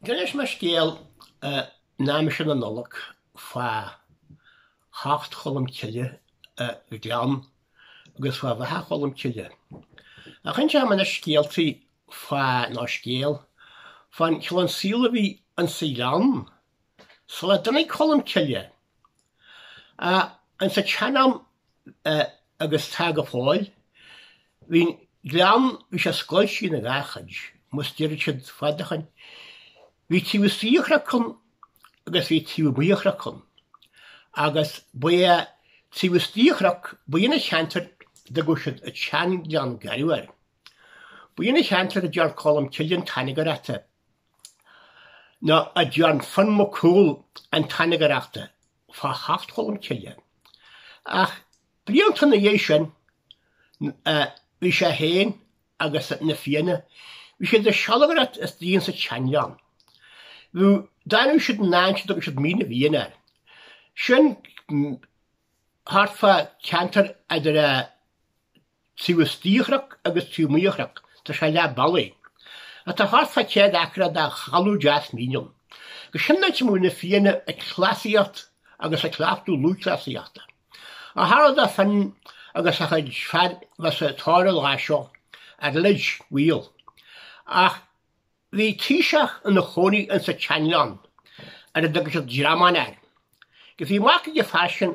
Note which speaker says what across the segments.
Speaker 1: D'inis mé scéal in aimsir na Nollag fa Theacht Cholm Cille go Gleann agus fa Bheatha Cholm Cille. Ach inseoidh mé anois scéaltaí fa ná scéal fan chineál saoil a bhí insa Ghleann Sula dtáinig Colmcille, insa tsean-am agus tá go fóill, bhí an gleann, bhí sé scoilte ina dhá chuid, mar a deireadh siad fad ó shoin. Bhí taobh istigh de chnoc ann agus bhí taobh amuigh de chnoc ann. Agus ba é taobh istigh de chnoc, ba é sin an ceantar a dtugadh siad an Sean-Ghleann Garbh air. Ba é sin an ceantar a dtearn Colmcille an tairngreacht. Nó a dtearn Fionn Mac Cumhaill an tairngreacht fá theacht Cholm Cille. Ach blianta ina dhiaidh sin, bhí sé féin agus na Fianna, bhí siad ag sealgaireacht istigh insa tseanghleann. D'fhanadh siad in áit a dtugadh siad Mín na bhFiann air. Sin thart fá cheantar idir a. Taobh istigh de chnoc agus taobh amuigh de chnoc, tá sé leath bealaigh, tá thart fá 100 acra de thalamh deas mín ann. Agus sin an áit a mbíodh na Fianna ag cleasaíocht agus ag cleachtadh lúthchleasaíochta. Ach tharla do Fionn agus a chuid fear bheith sa tóir an lá seo ar eilit mhaol, ach bhí taoiseach ina chónaí insa tseanghleann ar a dtugtaí Dreamhan air. Agus bhí mac ag an fhear sin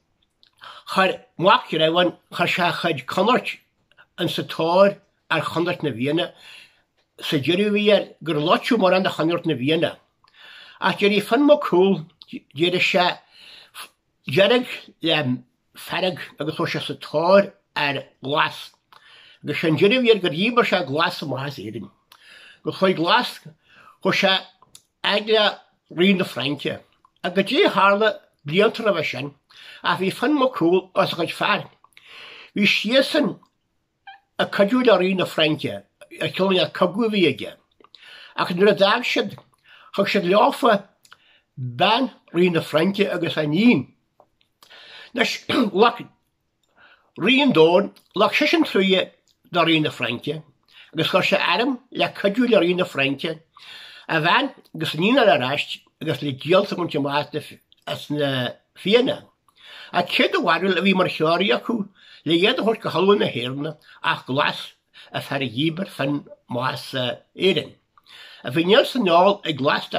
Speaker 1: Chuir Mac Dreamhain chuir sé a chuid conairt ins a tóir ar chonairt na bhfianna. Sé an deireadh bhí air gur loiteadh mórán de chonairt na bhfianna. Ach d'éirigh Fionn Mac Cumhaill, d'éirigh sé dearg le fearg agus chuaigh sé sa tóir ar Ghlas. Agus sé an deireadh bhí air gur dhíbir sé Glas amach as Éirinn. Gur chuaigh Glas, chuaigh sé, a fhad le Rí na Fraince. Ach goidé tharla blianta roimhe sin, ach bhí Fionn Mac Cumhaill agus a chuid fear, bhí siadsan ag cuidiú le Rí na Fraince ar cion de cogadh a bhí aige. Ach nuair a d'fhág siad, thug siad leofa bean Rí na Fraince agus a iníon. Anois, ghlac Rí an Domhain, Ghlac seisean truaighe do Rí na Fraince agus chuir sé arm le cuidiú le Rí na Fraince a bhean agus a iníon a fháil ar ais agus le díoltas a bhaint amach as na Fianna. Cé do bharúil a bhí mar threoraí acu le iad a thabhairt go hoileán na hÉireann ach Glas an fear a dhíbir Fionn amach as Éirinn ach bhí neart seaneolais ag Glas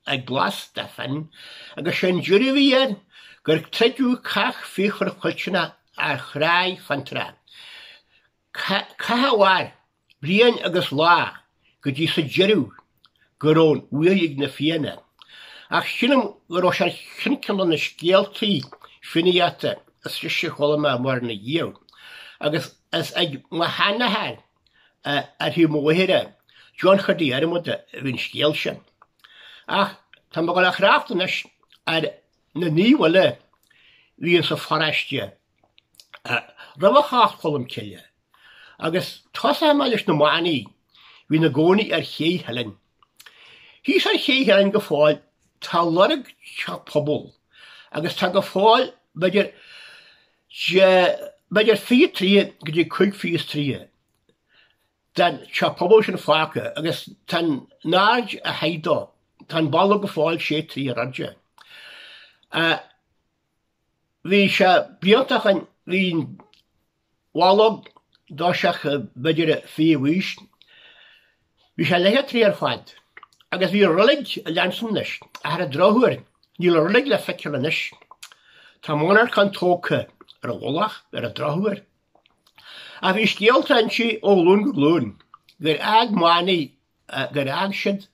Speaker 1: ag Glas Stephan, agus sé an deireadh a bhí air gur troideadh cath fíochmhar fuilteach ar Thráigh Fionntrá, cath a mhair bliain agus lá go dtí sa deireadh go raibh an bhuaidh ag na Fianna, ach sílim go raibh sé ar cheann ceann de na scéaltaí Fiannaíochta is deise a chuala mé i mo shaol riamh, agus is ag mo sheanathair, Ar thaobh mo mháthara, John Chondaí Dhiarmada a bhí an scéal sin. Ach tá mé ag gabháil a thrácht anois ar na naoimh uile a bhí insa pharáiste roimh theacht Cholm Cille, agus tosóchaidh mé leis na manaigh a bhí ina gcónaí ar Ché Theilinn. Thíos ar Ché Theilinn go fóill tá lorg teach pobail agus tá go fóill b'fhéidir sé b'fhéidir 20 troigh go dtí 25 troigh den teach pobail sin fágtha agus tá an aird a haghaidh dó. Tá an balla go fóill sé troithe ar airde. Bhí sé b'iontach an líon bhallóg doirseach b'fhéidir fiche i bhfís. Bhí sé leathchéad troigh ar fad, agus bhí roilig ag leanstan anois, ach ar an drochuair níl an roilig le feiceáil anois. Tá monarchan tógtha ar a mhullach, ar an drochuair. Ach bhí scéal dá inse ó ghlún go glún, gur fhág manaigh gur fhág siad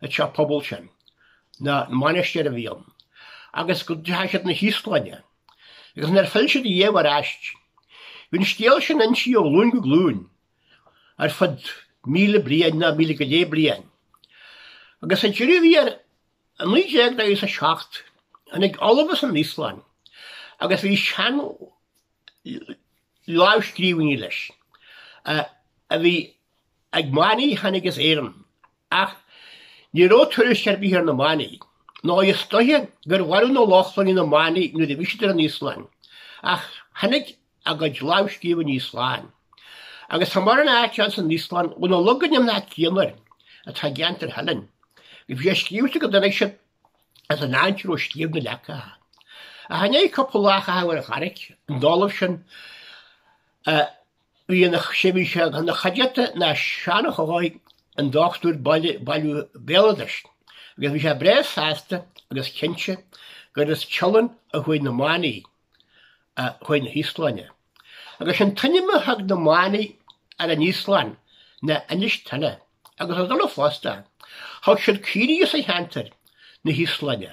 Speaker 1: an teach pobail sin, nó mainistir a bhí ann, agus go deachaidh siad 'na hÍoslainne, agus níor phill siad riamh ar ais. Bhí an scéal sin á inse ó ghlúin go glúin ar fad míle bliain, nó míle go leith bliain, agus sa deireadh thiar i 1947, tháinig ollamh as an Íoslainn agus bhí seanlámhscríbhinní leis a bhí Ag manaigh a tháinig as Éirinn, ach ní raibh tuairisc ar bith ar na Manaigh. Nó is dóiche gur mharaigh na Lochlannaigh na Manaigh nuair a bhí siad ar an Íoslainn, ach tháinig a gcuid lámhscríbhinní slán. Agus tá mórán áit ann san Íoslainn ó na logainmneacha céanna, atá i gceantar Theilinn, go bhfuil scríofa go dtáinig siad as an cheantar ó scríobh na leacacha. Ach i ndiaidh cúpla lá a chaitheamh ar an Charraig, an t-ollamh sin, Bhí ina chuideachta ná Seán Ó hEochaidh an Dr ag bailiú béaloidis agus bhí sé breá sásta agus cinnte gur as Teileann a chuaigh na manaigh chun na hÍoslainne. Agus an t-ainm a thug na manaigh ar an Íoslainn ná Inis Tuile agus is ann fosta a thug siad caoirigh as an cheantar 'na hÍoslainne.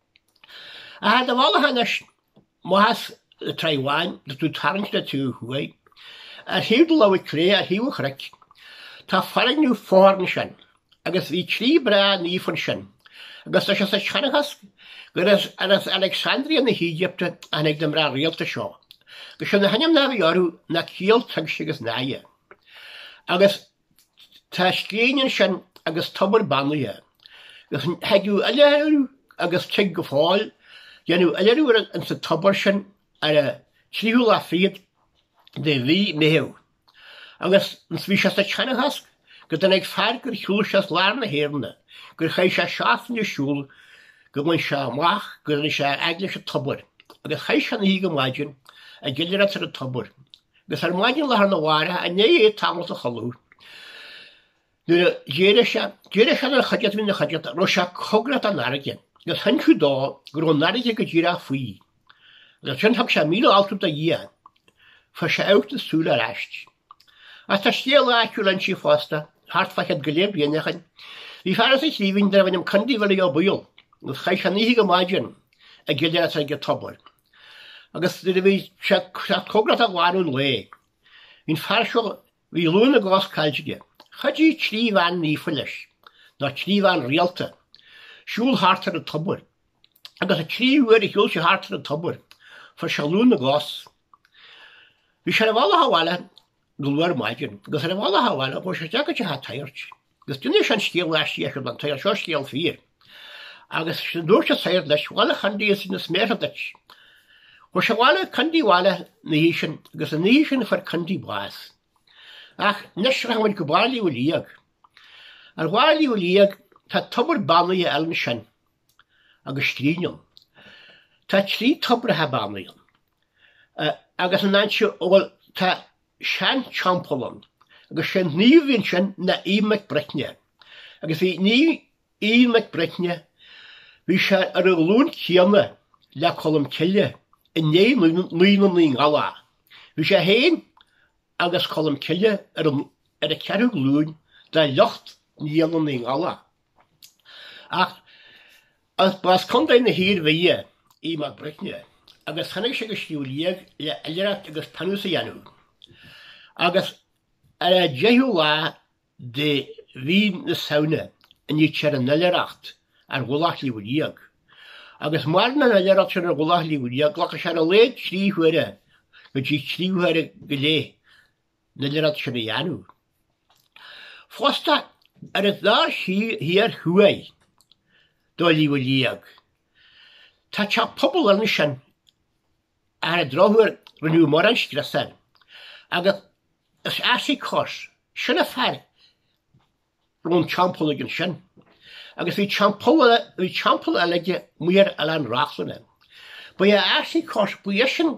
Speaker 1: Ach ar do bhealach anois, más le Tráigh Bhán agus tú ag tarraingt ó thuaidh, ar thaobh do láimhe clé, ar thaobh an chnoic, tá foirgneamh fothar ansin, agus bhí trí mná naofa ansin, agus tá sé sa tseanchas gur as Alexandria na hÉigipte a tháinig na mná rialta seo, agus sin na hainmneacha a bhí orthu, ná Ciall, Tuigse agus Náire. Agus Tá scrín ansin agus tobar beannaithe. Thagadh oilithrigh agus tig go fóill, a dhéanamh oilithreacht insa tobar sin ar an tríú lá fichead de mhí Meitheamh, agus bhí sé sa tseanchas go dtáinig fear gur shiúl sé as lár na hÉireanna, gur chaith sé seachtain ag siúl gur bhain sé amach go dtáinig sé fhad leis an tobar, agus chaith sé an oíche go maidin ag oilithreacht ar an tobar. Agus ar maidin lá arna mhárach, i ndiaidh tamall a chodladh, nuair a d'éirigh sé, d'iarr sé den chuideachta a bhí ina chuideachta, an raibh sé cóngarach don fharraige, agus d'inis siad dó go raibh an fharraige go díreach faoi. Agus ansin thug sé míle altú do Dhia, fuair sé amharc na súl ar ais. Ach tá scéal áitiúil ansin fosta, thart fá chead go leith bliain ó shin. Bhí fear as an Chliabhín, darbh ainm Condy Bhilly Ó Baoill, agus chaith sé an oíche go maidin ag oilithreacht ag an tobar. Agus nuair a bhí sé ag teacht cóngarach do ghealadh an lae, bhí an fear seo, bhí lúth na gcos caillte aige, chuidigh trí bhean naofa leis, nó trí bhean rialta, siúl thart ar an tobar. Agus an tríú huair a shiúl sé thart ar an tobar, fuair sé lúth na gcos. Bhí sé ar a bhealach abhaile go luath ar maidin, agus ar an bhealach abhaile chuaigh sé isteach go teach an tsagairt, agus d'inis sé an scéal aisteach sin don tsagart, Seo scéal fíor. Agus dúirt an sagart leis, Bhail a Chondaí nach méanar duit. Chuaigh sé abhaile, Condaí abhaile ina dhiaidh sin, agus an oíche sin fuair Condaí bás. Ach anois rachaidh muid go barr Shliabh Liag. Ar Shliabh Liag tá tobar beannaithe eile ansin. agus scrín ann. Tá trí tobracha beannaithe ann, agus ansin, bhuel, tá sean-teampall ann, agus is é an naomh ansin ná Aodh Mac Bricne, agus bhí Naomh Aodh Mac Bricne bhí sé ar an ghlúin chéanna le Colm Cille i ndiaidh Niall na Naoi nGiallach. Bhí sé féin agus Colm Cille ar an ceathrú glúin de shliocht Niall na Naoi nGiallach. Ach ba as Contae na hIarmhí Aodh Mac Bricne agus tháinig sé go Sliabh Liag le hoilithreacht agus pionós a dhéanamh agus ar an deichiú lá de mhí na Samhna a níthear an oilithreacht ar mhullach Shliabh Liag agus maireann an oilithreacht sin ar mhullach Shliabh Liag glacann sé ar a laghad trí huaire go dtí trí huaire go leith lena rud sin a dhéanamh. Fosta, ar an taobh thiar thuaidh de Shliabh a' Liag, tá teach pobail ansin a ar an drochuair rinneadh mórán scrios air, agus is Asicus sin an fear a raibh an teampall aige ansin, agus bhí teampall eile aige amuigh ar Oileán Reachlainn. Ba é Asicus, ba é sin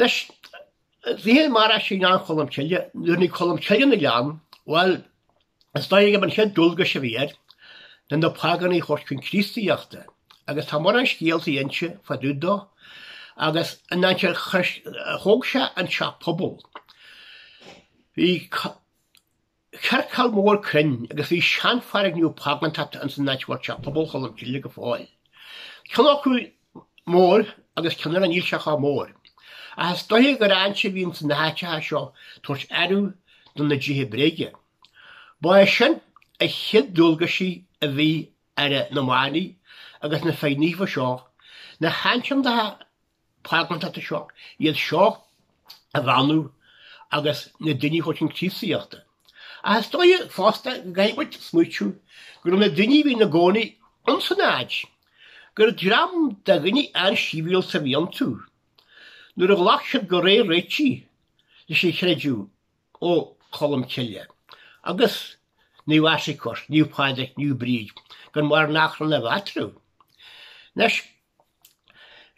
Speaker 1: Anois, bhí sé mar sin in am Cholm Cille, nuair a bhí Colm Cille i nGleann, bhuel, is dóigh gurb é an chéad dualgais a bhí air, ná na págánaigh a thabhairt chun Críostaíochta, agus tá mórán scéaltaí inste fá dtaobh dó, agus an áit ar chuir, thóg sé an teach pobail. Bhí. chiorcal mór cruinn agus bhí seanfhoirgneamh págántachta ins an áit a bhfuil teach pobail Cholm Cille go fóill, ceann acu mór agus ceann eile níl sé chomh mór, ach is dóiche gur ann a bhí ins na háiteacha seo tabhairt adhradh do na déithe bréige. Ba é sin a chéad dualgais a bhí ar na manaigh agus na fir naofa seo, na háiteacha págántachta seo iad seo a bheannú agus na daoine a thabhairt chun Críostaíochta. Ach is dóigh fosta go gcaithfidh muid smaoitiú go raibh na daoine a bhí ina gcónaí ins an áit, gur dream de dhaoine an-sibhialta a bhí iontu, nuair a ghlac siad go réidh réitigh leis an chreideamh ó Cholm Cille agus Naomh Asicus, Naomh Pádraig, Naomh Bríd, gan mórán achrainn a bheith eatarthu. Anois.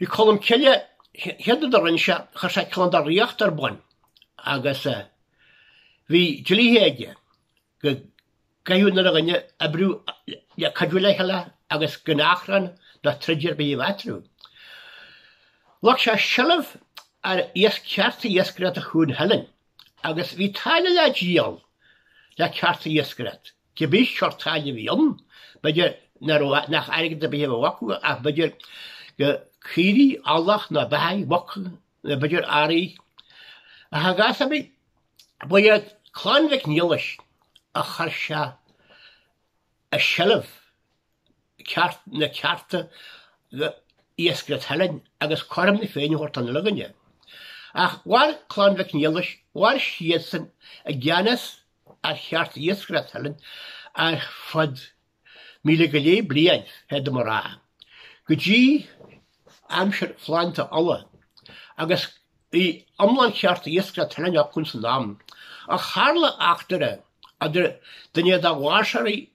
Speaker 1: Bhí Colm Cille, chéad rud a rinne sé, chuir sé cineál de ríocht ar bun agus bhí dlíthe aige go gcaithfeadh na daoine oibriú le cuidiú le chéile agus gan achrann ná troid ar bith a bheith eatarthu. Ghlac sé seilbh ar chearta iascaireachta Chuan Theilinn agus bhí táille le díol le cearta iascaireachta. Cibé sórt táille a bhí ann, b'fhéidir nach raibh nach airgead ar bith a bhí acu ach b'fhéidir gur caoirigh, eallach ná beathaigh, muc nó b'fhéidir earraí de shaghas ar bith. Ba iad Clann Mhic Niallais a chuir sé i seilbh ceart na cearta iascaireachta Theilinn agus cothrom na féinne a thabhairt don uile dhuine. Ach mhair Clann Mhic Niallais, mhair siadsan i gceannas ar chearta iascaireachta Theilinn ar fad míle go leith bliain, féadaim a rá, go dtí aimsir Phlandáil Uladh, agus bhí iomlán chearta iascaireachta Theilinn acu san am. Ach tharla eachtra idir duine dá bháirseoirí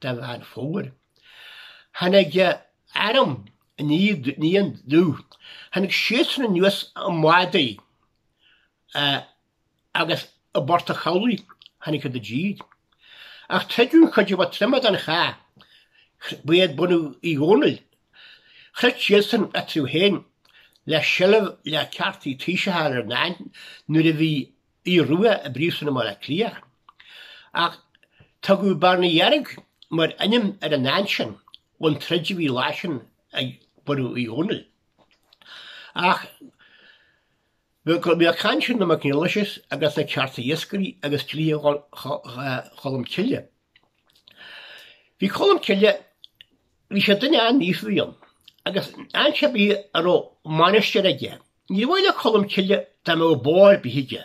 Speaker 1: de Mheán Fómhair. Tháinig arm Iníon Dubh, tháinig siadsan anuas i mbádaí agus i bPort an Chabhlaigh tháinig siad i dtír. Ach troideadh an chuid a ba troime den chath, ba iad bunadh Uí Dhomhnaill, throid siadsan eatarthu féin le seilbh le ceartaí taoiseacha ar an áit nuair a bhí Aodh Rua i bPríosún i mBaile Átha Cliath, ach tugadh Bearna Dheirg mar ainm ar an áit sin ón troid a bhí an lá sin ag bunadh Uí Dhónaill. Ach go mbeadh caint ar na McNelises agus na cearta iascairí agus dlíthe Cholm Cille. Bhí Colm Cille, bhí sé duine an-mhístuama, agus áit ar bith a raibh mainistir aige. Níor mhaith le Colm Cille dá mbeadh bó ar bith aige.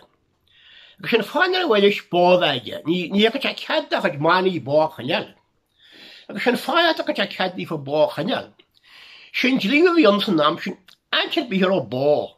Speaker 1: Agus sin fáth nár mhaith leis bó a bheith aige, ní thugadh sé cead dá chuid manaigh bó a choinneáil. Agus sin fáth nach dtugadh sé cead daofa bó a choinneáil. Sin dlí a bhí ann san am sin, áit ar bith a raibh bó.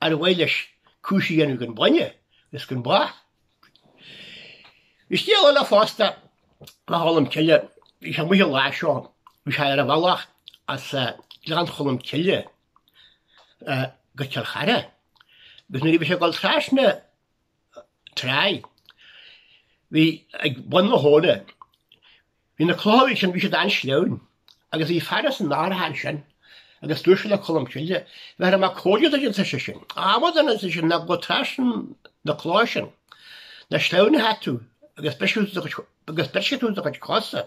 Speaker 1: Ar mhaith leis cúis a dhéanamh gan bainne is gan bó? Bhí scéal eile fosta fá Cholm Cille. Bhí sé amuigh an lá seo, bhí sé ar a bhealach as Gleann Cholm Cille go Cill Chartha, agus nuair a bhí sé ag dul trasna tráigh, bhí ag bun na habhna, Bhí na clocha ansin, bhí siad an-sleamhain, agus bhí fear as an Atharach ansin agus dúirt sé le Colm Cille, bhéarfaidh mé comhairle duit, a dúirt seisean. A amadáin, ná gabh trasna na clocha sin, nó sleamhnóchaidh tú agus brisfidh tú do chuid, agus brisfidh tú do chuid cosa.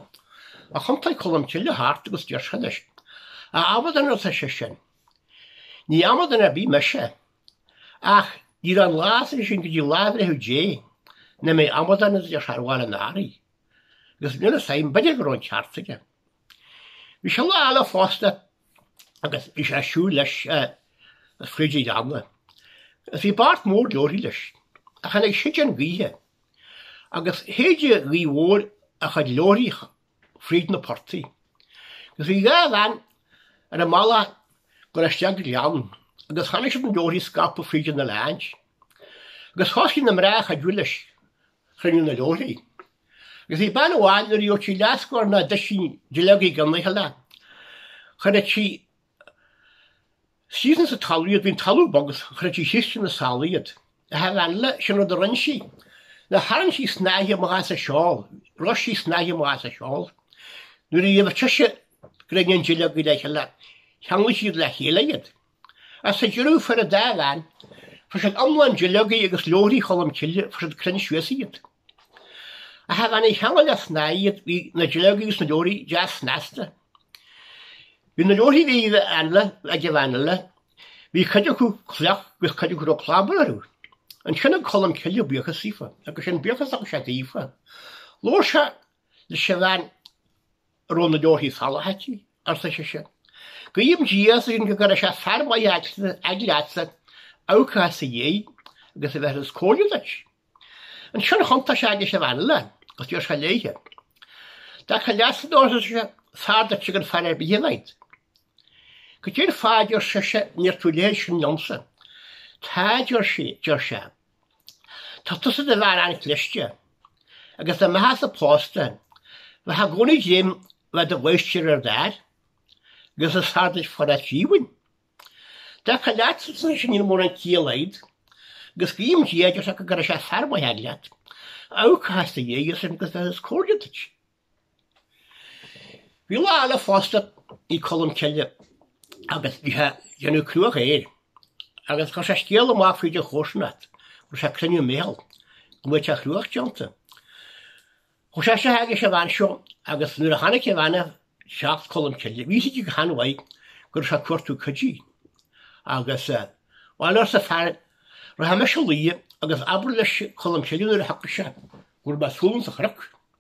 Speaker 1: Ach thiontaigh Colm Cille thart agus deir sé leis, a amadáin, a dúirt seisean. Ní amadán ar bith mise. Ach ná raibh aon lá as sin go dtí lá bhreithimh Dé, nach mbeidh amadán ar bhaile an Atharaigh. agus níl fhios a'm, b'fhéidir go raibh an ceart aige. Bhí sé lá eile fosta agus bhí sé ag siúl leis fríd an Ghleann agus bhí beart mór leabhraí leis agus tháinig séideán gaoithe agus shéid an ghaoth mhór a chuid leabhraí fríd na portaigh agus bhí dhá bhean ar a mbealach ag gabháil isteach an Gleann agus chonaic siad na leabhraí scaipthe fríd an oileáint agus thosaigh na mná ag cuidiú leis chruinniú na leabhraí. Agus bhí bean amháin nuair a gheobhadh sí leathscór nó doisín duilleogaí i gceann le chéile, chuirfeadh sí ina seasamh sa talamh iad, bhí an talamh bog agus chuirfeadh sí isteach ina seál iad. Ach an bhean eile, sin rud a rinn sí, ná tharraing sí snáithe amach as a seál, rois sí snáithe amach as a seál. Nuair a gheibheadh sise gráinnín duilleogaí le chéile, cheanglaigh siad le chéile iad. As a dheireadh fuair an dá bhean fuair siad iomlán duilleogaí agus leabhraí Cholm Cille fuair siad cruinn suas iad. Ach an bhean a cheangail le snáth iad bhí na duilleogaí agus na leabhraí deas snasta. Bhí na leabharthaí a bhí ag an bhean eile, bhí cuid acu fliuch agus cuid acu a raibh clábar orthu. Ansin thug Colm Cille buíochas daofa agus sin an buíochas a thug sé daofa. Labhair sé 'Lis sé bhean a raibh na leoithí salaithe aici, arsa sise. 'Guím Dia sinn go gcuirfidh sé fear maith aici leatsa, abhcóide sa dhiaidh, agus a bheith níos cóire duit. Ansin thiontaigh sé aici is a bhean eile, agus d'iarr sé léithe. 'Deacair leat, seanóir, arsa sise, 'fear duit ag an fear ar bith a bheith. Go deir Phaidí, arsa sise, 'níor tú léir sin liomsa. 'Táid, ar sé, Tá tusa i do bhean an-chliste, agus dá mbeitheása pósta, bheitheá i gcónaí ag dréim le bheith i do mháistir ar d'fhear, agus is fearr duit fanacht díomhaoin. I dtaca leatsa, ar seisean, níl mórán ciall agat, agus guím Dia dearcadh go gcuirfidh sé fear maith agat leat, a amharcóchas i do dhiaidh sin agus a bhéarfas comhairle duit. Bhí lá eile fosta ag Colmcille agus bhí sé ag déanamh cruach fhéir agus chuir sé scéal amach fríd an chomharsanacht go raibh sé ag cruinniú meithil go mbeadh an chruach déanta. Chuaigh sé chuig an bhean seo agus nuair a chonaic an bhean é ag teacht Colmcille bhí a fhios aici go han-mhaith go raibh sé ag cuartú cuidiú agus bhail arsa an fear rachaidh mise a luí agus abair leis Colmcille nuair a thiocfadh sé go raibh mé ar siúl ins an chnoc.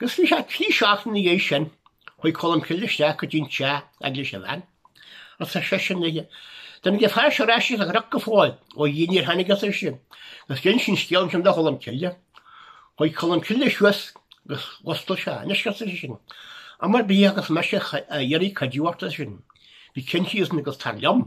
Speaker 1: Agus bhí sé trí seachtaine ina dhiaidh sin chuaigh Colm Cille isteach go dtí'n teach chuig an bhean agus ar seisean léi, An dtáinig an fear ar ais as an chnoc go fóill, ó a Dhia níor tháinig arsa sise, agus d'inis sí an scéal ansin do Cholm Cille. Chuaigh Colm Cille suas agus mhuscail sé é, Anois, ar seisean, am ar bith a bheas mise ag iarraidh cuidiú ort, ar seisean, bí cinnte, ar seisean, agus tar liom.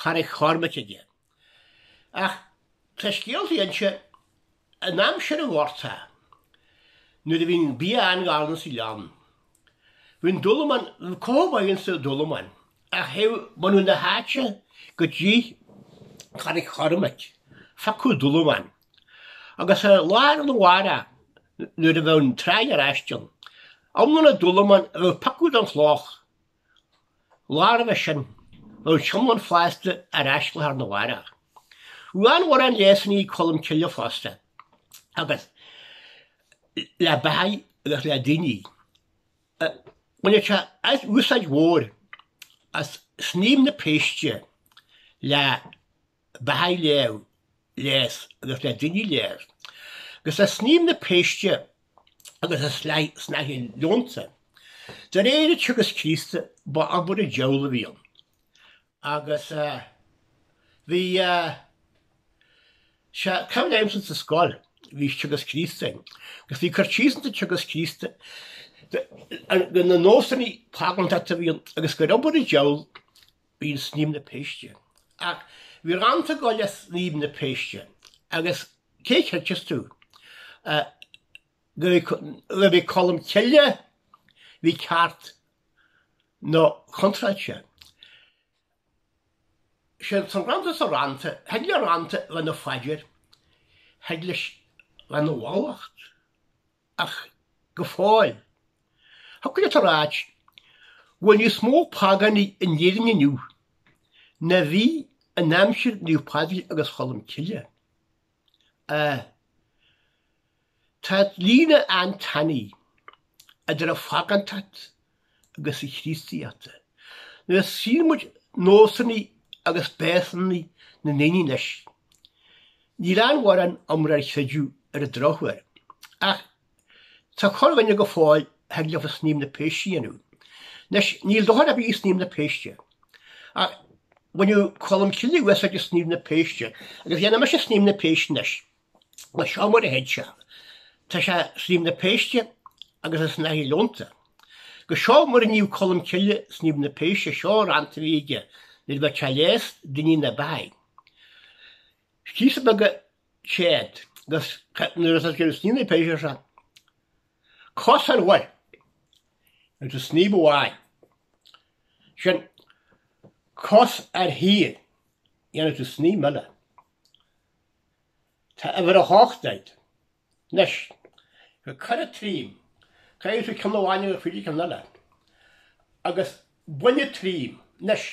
Speaker 1: Charraig Chormaic aige. Ach tá scéaltaí anseo in aimsir an ghorta nuair a bhí an bia an-ghann insa ghleann. Bhí an dúlamán, bhí cothabháil insa dúlamán agus théadh bunadh na háite go dtí Carraig Chormaic ag piocadh dúlamán agus lá arna mhárach nuair a bheadh an tráigh ar ais, an t-iomlán dúlamán a piocadh den chloch. lá roimhe sin bhí an t-iomlán fásta ar ais lá arna mhárach. Bhí mórán leigheasannaí ag Colm Cille fosta agus le beathaigh agus le daoine a bhaineadh sé úsáid mhór as snaidhm na péiste le beathaigh a leigheas agus le daoine a leigheas agus le snaidhm na péiste agus an snáithe leonta. De réir an teagasc Críostaí ba obair an diabhail a bhí ann agus bhí is cuimhin liomsa sa scoil bhí teagasc Críostaí againn agus bhí cur síos ins an teagasc Críostaí ar na nósanna págántachta a bhí ann agus gur obair an diabhail a bhí i snaidhm na péiste. Ach bhí rannta ag gabháil le snaidhm na péiste agus cé chreideas tú? Nuair a bhí Colm Cille bhí ceart nó contráilte. Sé an rannta sa rannta, thig le rannta a bheith ina phaidir, thig leis a bheith ina mhallacht. ach go fóill, thiocfadh leat a ráit go bhfuil níos mó págánaigh in Éirinn inniu ná bhí in aimsir Naomh Pádraig agus Cholm Cille. Ahh. Tá líne an-tanaí idir an phágántacht agus an Chríostaíocht. Nuair a tchíonn muid nósanna agus béasanna na ndaoine anois, níl aon mhórán iomrá ar chreideamh ar an drochuair, ach tá corrdhuine go fóill a thig leofa snaidhm na péiste a dhéanamh. Anois, níl dochar ar bith i snaidhm na péiste, ach bhaineadh Colm Cille úsáid as snaidhm na péiste, agus dhéanfaidh mise snaidhm na péiste anois. Is seo mar a théid sé. Tá seo snaidhm na péiste agus an snáithe leonta. Agus seo mar a níodh Colm Cille snaidhm na péiste seo an rannta a bhí aige nuair a bheadh sé ag leigheas daoine nó beathaigh. Scíosa beag a séad gus nuair atá sé ag snaidhm na péiste seo, cos ar mhuir agus an snaidhm amháin sin, cos ar thír, dhéanfaidh tú snaidhm eile. Tá uimhir a hocht agat. Anois, go gcuire trí caithfidh tú ceann amháin agus faoi sa ceann eile. Agus bainne trí. Anois,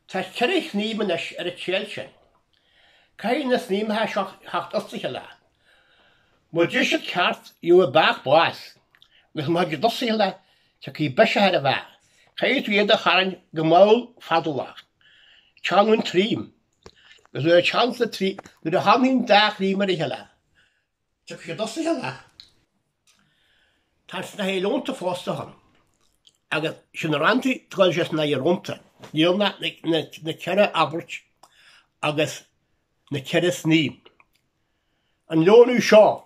Speaker 1: tá ceithre shnaidhm anois ar an téad sin. Caithfidh na snaidhmeacha seo a theacht as a chéile. Mura dtig siad ceart, gheobhaidh an beathach bás, agus má thig siad as a chéile, tiocfaidh biseach ar an bheathach. Caithfidh tú iad a tharraingt go mall fadálach. Teann ón troim. Is nuair a theann na trí, nuair a tháinig an dá shnaidhm ar a chéile, tiocfaidh siad as a chéile. Tá snáithe leonta fosta ann, agus sin na ranntaí, atá ag gabháil leis an snáithe leonta, níl ann ach na ceithre abairt agus na ceithre snaidhm. An leonadh seo,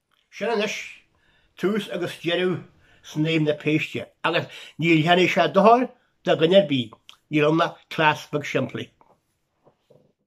Speaker 1: Sin anois tús agus deireadh Snaidhm na Péiste, agus ní dhéanfaidh sé dochar do dhuine ar bith, níl ann ach cleas beag simplí.